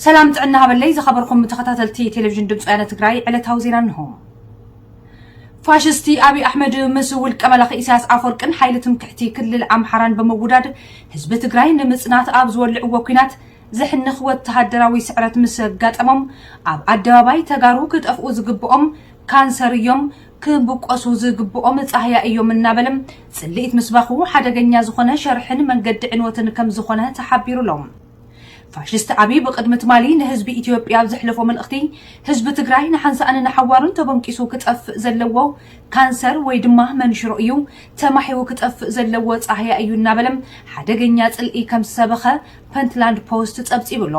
ሰላም ጥዕና ሃበለይ ዝኸበርኩም ተኸታተልቲ ቴሌቪዥን ድምፂ ወያነ ትግራይ ዕለታዊ ዜና እንሆ ፋሽስቲ ኣብይ ኣሕመድ ምስ ውልቀ መላኺ ኢሳያስ ኣፈወርቅን ሓይሊ ትምክሕቲ ክልል ኣምሓራን ብምውዳድ ህዝቢ ትግራይ ንምፅናት ኣብ ዝወልዕዎ ኩናት ዘሕንኽ ወተሃደራዊ ስዕረት ምስ ኣጋጠሞም ኣብ ኣደባባይ ተጋሩ ክጠፍኡ ዝግብኦም ካንሰር እዮም ክብቆሱ ዝግብኦም ጻህያ እዮም እናበለ ጽልኢት ምስባኹ ሓደገኛ ዝኾነ ሸርሕን መንገዲ ዕንወትን ከምዝኾነ ተሓቢሩ'ሎ። ፋሽስት ኣብይ ብቕድሚ ትማሊ ንህዝቢ ኢትዮጵያ ኣብ ዘሕለፎ መልእኽቲ ህዝቢ ትግራይ ንሓንሳእን ንሓዋሩን ተበንቂሱ ክጠፍእ ዘለዎ ካንሰር ወይ ድማ መንሽሮ እዩ፣ ተማሒዉ ክጠፍእ ዘለዎ ጻህያ እዩ እናበለ ሓደገኛ ጽልኢ ከምዝሰበኸ ፐንትላንድ ፖስት ጸብጺቡ'ሎ።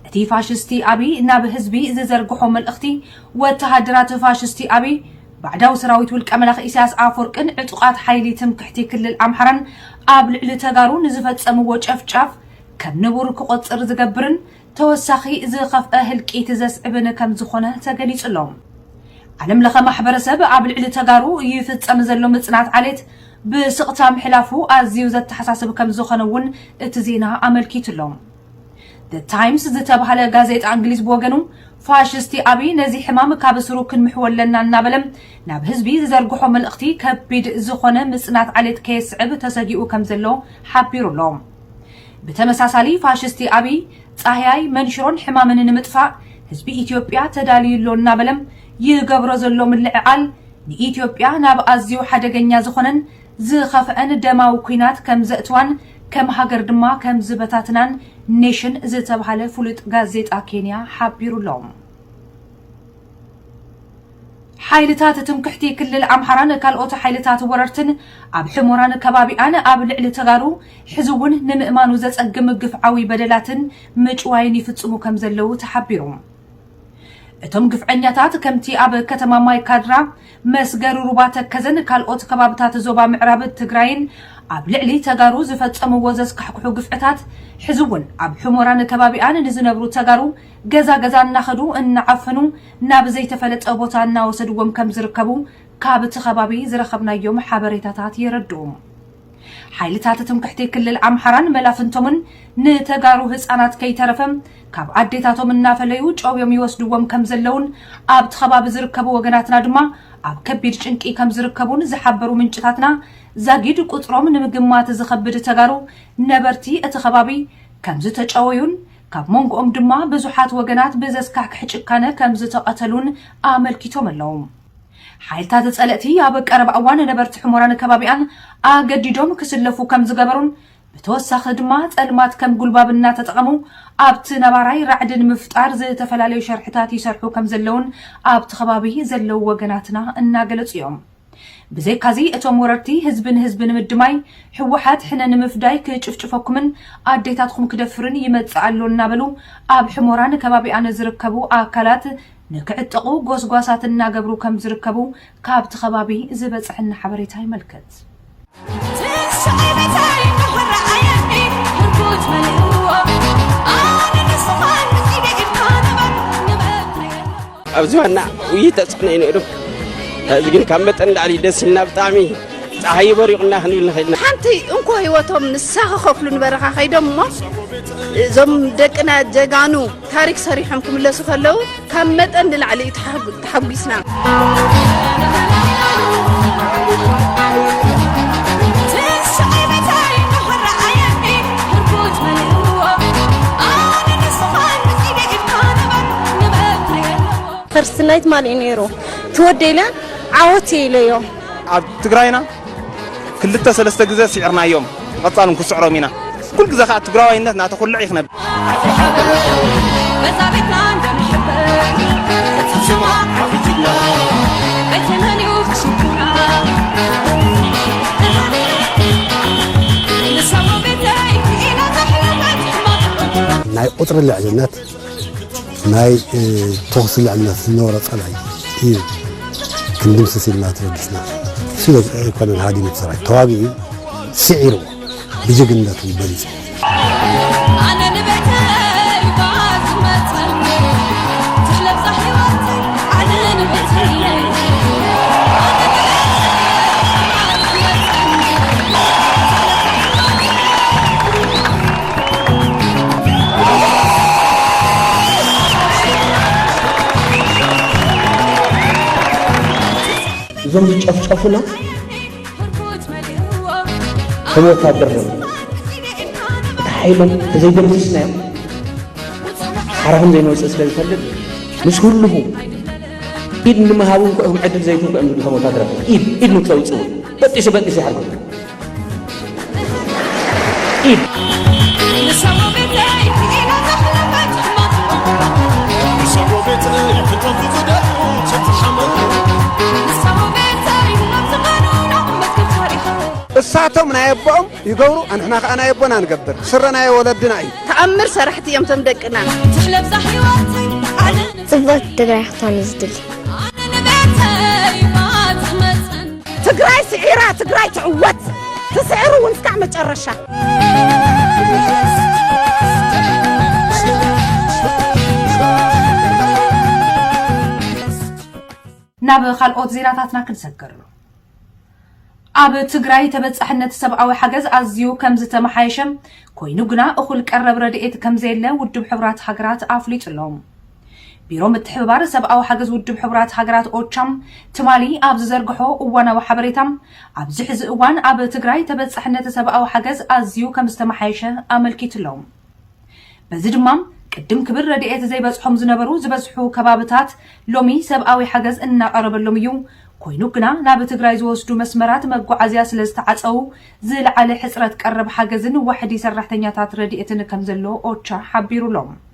እቲ ፋሽስቲ ኣብይ ናብ ህዝቢ ዝዘርግሖ መልእኽቲ ወተሃደራት ፋሽስቲ ኣብይ ባዕዳዊ ሰራዊት ውልቀ መላኺ ኢሳያስ ኣፎርቅን ዕጡቓት ሓይሊ ትምክሕቲ ክልል ኣምሓራን ኣብ ልዕሊ ተጋሩ ንዝፈፀምዎ ጨፍጫፍ ከም ንቡር ክቖፅር ዝገብርን ተወሳኺ ዝኸፍኣ ህልቂት ዘስዕብን ከም ዝኾነ ተገሊፁ ኣሎ። ዓለም ለኸ ማሕበረሰብ ኣብ ልዕሊ ተጋሩ ይፍፀም ዘሎ ምፅናት ዓሌት ብስቕታ ምሕላፉ ኣዝዩ ዘተሓሳስብ ከም ዝኾነ እውን እቲ ዜና ኣመልኪቱ ኣሎ። The Times ዝተባህለ ጋዜጣ እንግሊዝ ብወገኑ ፋሽስቲ ኣብይ ነዚ ሕማም ካብ ስሩ ክንምሕዎ ኣለና እናበለ ናብ ህዝቢ ዝዘርግሖ መልእኽቲ ከቢድ ዝኾነ ምጽናት ዓሌት ከየስዕብ ተሰጊኡ ከም ዘሎ ሓቢሩ ኣሎ። ብተመሳሳሊ ፋሽስቲ ኣብይ ጻህያይ መንሽሮን ሕማምን ንምጥፋእ ህዝቢ ኢትዮጵያ ተዳልዩ ኣሎ እናበለ ይገብሮ ዘሎ ምልዕዓል ንኢትዮጵያ ናብ ኣዝዩ ሓደገኛ ዝኾነን ዝኸፍዐን ደማዊ ኩናት ከም ዘእትዋን ከም ሃገር ድማ ከም ዝበታትናን ኔሽን ዝተብሃለ ፍሉጥ ጋዜጣ ኬንያ ሓቢሩ ኣሎ። ሓይልታት ትምክሕቲ ክልል ኣምሓራን ካልኦት ሓይልታት ወረርትን ኣብ ሕሞራን ከባቢኣን ኣብ ልዕሊ ተጋሩ ሕዚ እውን ንምእማኑ ዘፀግም ግፍዓዊ በደላትን ምጭዋይን ይፍፅሙ ከም ዘለዉ ተሓቢሩ። እቶም ግፍዐኛታት ከምቲ ኣብ ከተማ ማይ ካድራ፣ መስገሪ ሩባ ተከዘን ካልኦት ከባብታት ዞባ ምዕራብ ትግራይን ኣብ ልዕሊ ተጋሩ ዝፈፀምዎ ዘስካሕክሑ ግፍዕታት ሕዚ እውን ኣብ ሑሞራን ከባቢኣን ንዝነብሩ ተጋሩ ገዛ ገዛ እናኸዱ እናዓፈኑ ናብ ዘይተፈለጠ ቦታ እናወሰድዎም ከምዝርከቡ ካብቲ ከባቢ ዝረኸብናዮም ሓበሬታታት የረድኡ። ሓይልታት ትምክሕቲ ክልል ኣምሓራን መላፍንቶምን ንተጋሩ ህፃናት ከይተረፈ ካብ ኣዴታቶም እናፈለዩ ጨውዮም ይወስድዎም ከም ዘለውን ኣብቲ ከባቢ ዝርከቡ ወገናትና ድማ ኣብ ከቢድ ጭንቂ ከም ዝርከቡን ዝሓበሩ ምንጭታትና ዛጊድ ቁፅሮም ንምግማት ዝኸብድ ተጋሩ ነበርቲ እቲ ከባቢ ከም ዝተጨወዩን ካብ መንጎኦም ድማ ብዙሓት ወገናት ብዘስካሕክሕ ጭካነ ከም ዝተቐተሉን ኣመልኪቶም ኣለዉ። ሓይልታት ጸለእቲ ኣብ ቀረባ እዋን ነበርቲ ሑሞራን ከባቢኣን ኣገዲዶም ክስለፉ ከም ዝገበሩን ብተወሳኺ ድማ ጸልማት ከም ጉልባብ እናተጠቐሙ ኣብቲ ነባራይ ራዕዲ ንምፍጣር ዝተፈላለዩ ሸርሕታት ይሰርሑ ከም ዘለዉን ኣብቲ ከባቢ ዘለዉ ወገናትና እናገለጹ እዮም። ብዘይካዚ እቶም ወረርቲ ህዝቢ ንህዝቢ ንምድማይ ህወሓት ሕነ ንምፍዳይ ክጭፍጭፈኩምን ኣዴታትኹም ክደፍርን ይመጽእ ኣሎ እናበሉ ኣብ ሑሞራን ከባቢኣን ዝርከቡ ኣካላት ንክዕጠቑ ጎስጓሳት እናገብሩ ከምዝርከቡ ካብቲ ከባቢ ዝበፀሐና ሓበሬታ የመልክት። ኣብዚ ዋና ውይይት ተፅዕኖ እዩ ነይሩ እዚ ግን ካብ መጠን ላዕሊ ደስ ኢልና ብጣዕሚ ፀሓይ ይበሪቑና ክንብል ንኽእል ኢና ሓንቲ እንኮ ህይወቶም ንሳ ክኸፍሉ ንበረኻ ከይዶም እሞ እዞም ደቅና ጀጋኑ ታሪክ ሰሪሖም ክምለሱ ከለው ካብ መጠን ንላዕሊ እዩ ተሓጒስና። ፈርስት ናይት ማን እዩ ነይሩ ትወደኢለ ዓወት ኢለዮ ኣብ ትግራይና ክልተ ሰለስተ ግዘ ሲዕርናዮም ቐፃል ውን ክስዕሮም ኢና ኩል ግዘ ካዓ ትግራዋይነት ናተኹልዕ እዩ ክነብ ናይ ቁፅሪ ልዕልነት ናይ ተኹሲ ልዕልነት ዝነበሮ ጸላኢ እዩ ክንድምስስ ኢልና ተበጊስና ስለ ኣይኮነን ሃዲሙ ሰራዊት ተዋጊኡ ስዒርዎ ብጅግንነቱ በሊጹ እዞም ዝጨፍጨፉና ከም ወታደር ነ እቲ ሓይሎም ተዘይደምስስናዮም ሓራ ከም ዘይንወፅእ ስለ ዝፈልጥ ምስ ህልኹ ኢድ ንምሃብ እውን ክኦም ዕድል ዘይትንኩ እዮም ዝብሉ ከም ወታደራት ኢድ ኢድ ንክተውፅኡ በጢሱ በጢሱ ይሓርጉ እሳቶም ናይ ኣቦኦም ይገብሩ ኣንሕና ከዓ ናይ ኣቦና ንገብር ስረ ናይ ወለድና እዩ ተኣምር ሰራሕቲ እዮም ቶም ደቅና ትሕለብዛ ሕይወተይ ዓለም ጽብቕቲ ትግራይ ክታን ዝድል ኣነ ንቤተይ ማት መፅን ትግራይ ስዒራ ትግራይ ትዕወት ትስዕር እውን እስካዕ መጨረሻ። ናብ ካልኦት ዜናታትና ክንሰግር ኣብ ትግራይ ተበፃሕነት ሰብኣዊ ሓገዝ ኣዝዩ ከም ዝተመሓየሸ ኮይኑ ግና እኹል ቀረብ ረድኤት ከም ዘየለ ውድብ ሕቡራት ሃገራት ኣፍሊጡ ኣሎ። ቢሮ ምትሕብባር ሰብኣዊ ሓገዝ ውድብ ሕቡራት ሃገራት ኦቻ ትማሊ ኣብ ዝዘርግሖ እዋናዊ ሓበሬታ ኣብዚ ሕዚ እዋን ኣብ ትግራይ ተበፃሕነት ሰብኣዊ ሓገዝ ኣዝዩ ከምዝተመሓየሸ ኣመልኪቱ'ሎ። በዚ ድማ ቅድም ክብል ረድኤት ዘይበፅሖም ዝነበሩ ዝበዝሑ ከባብታት ሎሚ ሰብኣዊ ሓገዝ እናቐረበሎም እዩ፣ ኮይኑ ግና ናብ ትግራይ ዝወስዱ መስመራት መጓዓዝያ ስለዝተዓፀዉ ዝለዓለ ሕፅረት ቀረብ ሓገዝን ዋሕዲ ሰራሕተኛታት ረድኤትን ከምዘሎ ኦቻ ሓቢሩ'ሎ።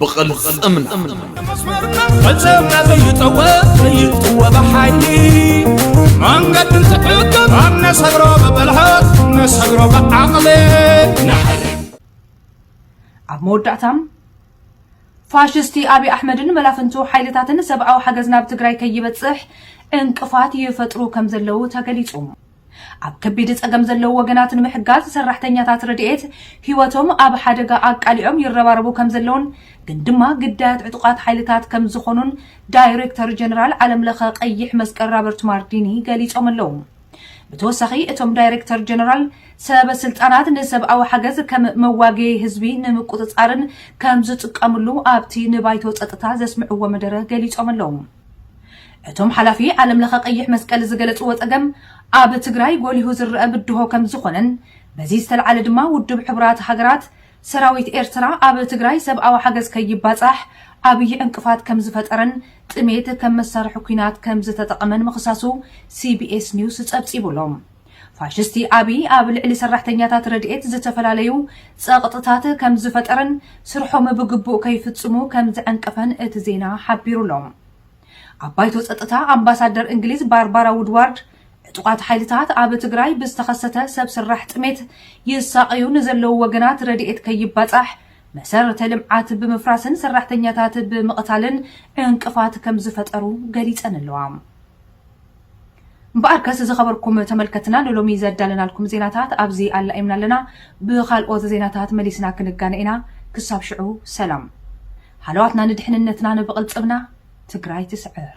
ብቕልፅምና ፈፀምና ዘይጠወ ዘይጥወ ብሓይሊ መንገዲ እንትሕግብ ኣብ ነሰግሮ ብብልሃት ነሰግሮ ብዓቕሊ ንሓሪ ኣብ መወዳእታ ፋሽስቲ ኣብዪ ኣሕመድን መላፍንቱ ሓይልታትን ሰብኣዊ ሓገዝ ናብ ትግራይ ከይበፅሕ ዕንቅፋት ይፈጥሩ ከም ዘለዉ ተገሊፁ ኣብ ከቢድ ፀገም ዘለዉ ወገናት ንምሕጋዝ ሰራሕተኛታት ረድኤት ህይወቶም ኣብ ሓደጋ ኣቃሊዖም ይረባረቡ ከምዘለዉን ግን ድማ ግዳያት ዕጡቓት ሓይልታት ከምዝኾኑን ዳይሬክተር ጀነራል ዓለምለኸ ቀይሕ መስቀል ራበርት ማርዲኒ ገሊፆም ኣለዉ። ብተወሳኺ እቶም ዳይሬክተር ጀነራል ሰበ ስልጣናት ንሰብኣዊ ሓገዝ ከም መዋገዪ ህዝቢ ንምቁፅፃርን ከምዝጥቀምሉ ኣብቲ ንባይቶ ፀጥታ ዘስምዕዎ መደረ ገሊፆም ኣለዉ። እቶም ሓላፊ ዓለም ለኸ ቀይሕ መስቀል ዝገለፅዎ ፀገም ኣብ ትግራይ ጎሊሁ ዝረኣ ብድሆ ከምዝኾነን በዚ ዝተልዓለ ድማ ውድብ ሕቡራት ሃገራት ሰራዊት ኤርትራ ኣብ ትግራይ ሰብኣዊ ሓገዝ ከይባፃሕ ዓብዪ ዕንቅፋት ከምዝፈጠረን ጥሜት ከም መሳርሒ ኲናት ከምዝተጠቐመን ምኽሳሱ ሲቢኤስ ኒውስ ፀብፂቡ ኣሎ። ፋሽስቲ ኣብይ ኣብ ልዕሊ ሰራሕተኛታት ረድኤት ዝተፈላለዩ ጸቕጥታት ከም ዝፈጠረን ስርሖም ብግቡእ ከይፍጽሙ ከም ዘዐንቀፈን እቲ ዜና ሓቢሩ'ሎ። ኣብ ባይቶ ጸጥታ ኣምባሳደር እንግሊዝ ባርባራ ውድዋርድ ዕጡቓት ሓይልታት ኣብ ትግራይ ብዝተኸሰተ ሰብ ስራሕ ጥሜት ይሳቐዩ ንዘለዉ ወገናት ረድኤት ከይባጻሕ መሰረተ ልምዓት ብምፍራስን ሰራሕተኛታት ብምቕታልን ዕንቅፋት ከም ዝፈጠሩ ገሊጸን ኣለዋ። እምበኣርከስ ዝኸበርኩም ተመልከትና ንሎሚ ዘዳለናልኩም ዜናታት ኣብዚ ኣላኢምና ኣለና። ብኻልኦት ዜናታት መሊስና ክንጋነ ኢና። ክሳብ ሽዑ ሰላም። ሃለዋትና ንድሕንነትና ንብቕልፅምና ትግራይ ትስዕር!